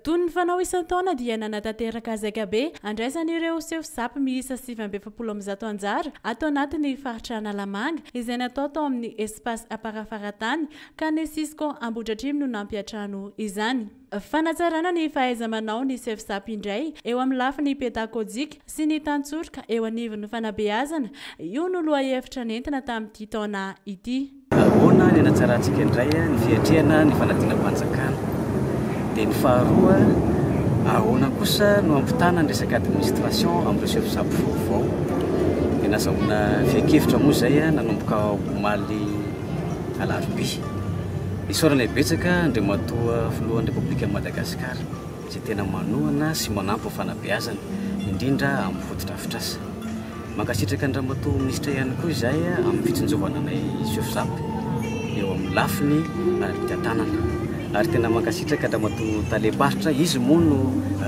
Toy ny fanao isan-taona dia nanatanteraka hazaikabe handraisan'ireo sefo Zap miisa sivy amby efapolo amin'ny zato anjara ato anatin'ny faritra Analamanga izay natao tao amin'ny Espace Aparafara Tany ka ny Cisco Ambohidratrimo no nampiantrano izany. Fanatsarana ny fahaiza-manao ny Cefsap indray eo amin'ny lafiny pedakojika sy ny tantsoroka eo anivon'ny fanabeazana, io no lohahevitra nentina tamin'ity taona ity. Ahoana ny hanatsarantsika indray ny fiatrehana ny fanadinam-panjakana? Dia ny faharoa, ahoana kosa no hampitana ny resaka administration amin'ireo Cefsap vaovao? Dia nazahoana fiankevitra moa izay nanomboka omaly. Alarobia. Isaorana betsaka Andriamatoa Filohan'ny Repoblikan'i Madagasikara izay tena manohana sy manampy ny fanabeazana, indrindra amin'ny fotodrafitrasa. Mankasitraka an-dRamatoa Minisitra ihany koa izahay amin'ny fitsinjovana anay Sofjap eo amin'ny lafiny ara-pitantanana. Ary tena mankasitraka an-dRamatoa Talem-paritra, izy moa no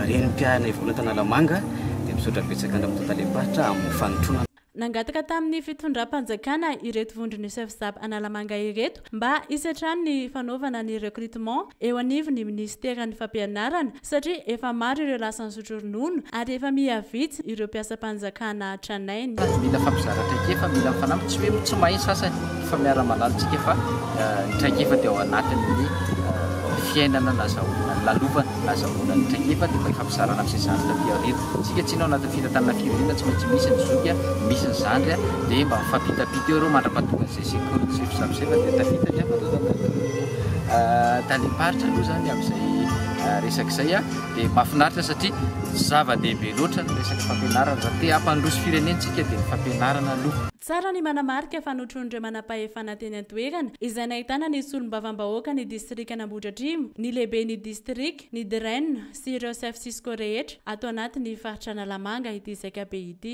Renim-piahinay voalohany tao Analamanga, dia misaotra betsaka an-dRamatoa Talem-paritra amin'ny fanotronana. Nangataka tamin'ny fitondram-panjakana ireto vondron'ny Sfsab Analamanga ireto mba hisy hatrany ny fanaovana ny recrutement eo anivon'ny minisiteran'ny fampianarana satria efa maro ireo lasan'ny sotroronono ary efa miha vitsy ireo mpiasam-panjakana tranainy. Mila fampizarana traikefa, mila ny fanamby, tsy hoe moa tsy mahay ny sasany fa miara-malalintsika fa ny traikefa dia ao anatin'ny fiainana nazahoana ny lalovana. Ahazahoana ny traikefa dia mba fampizarana amin'izay zandry taty aoriana. Isika tsinona ao anatin'ny fitantanana firenena tsy maintsy misy ny zoky, misy ny zandry dia mba mifampitampita eo ireo mandra-pahatonga an'izay sekoly tsy fisafosaina dia tafita ny talem-paritra aloha izany amin'izay resaka izay dia mahafinaritra satria zava-dehibe loatra ny resaka fampianarana. Raha te hampandroso firenentsika dia ny fampianarana aloha. Tsara ny manamarika fa notron'ireo manampahefana teny an-toerana, izay nahitana ny solombavambahoaka ny distrikan'Ambohidratrimo, ny lehiben'ny distrika, ny DREN sy ireo chef cisco rehetra ato anatin'ny faritra Analamanga ity zaika be ity.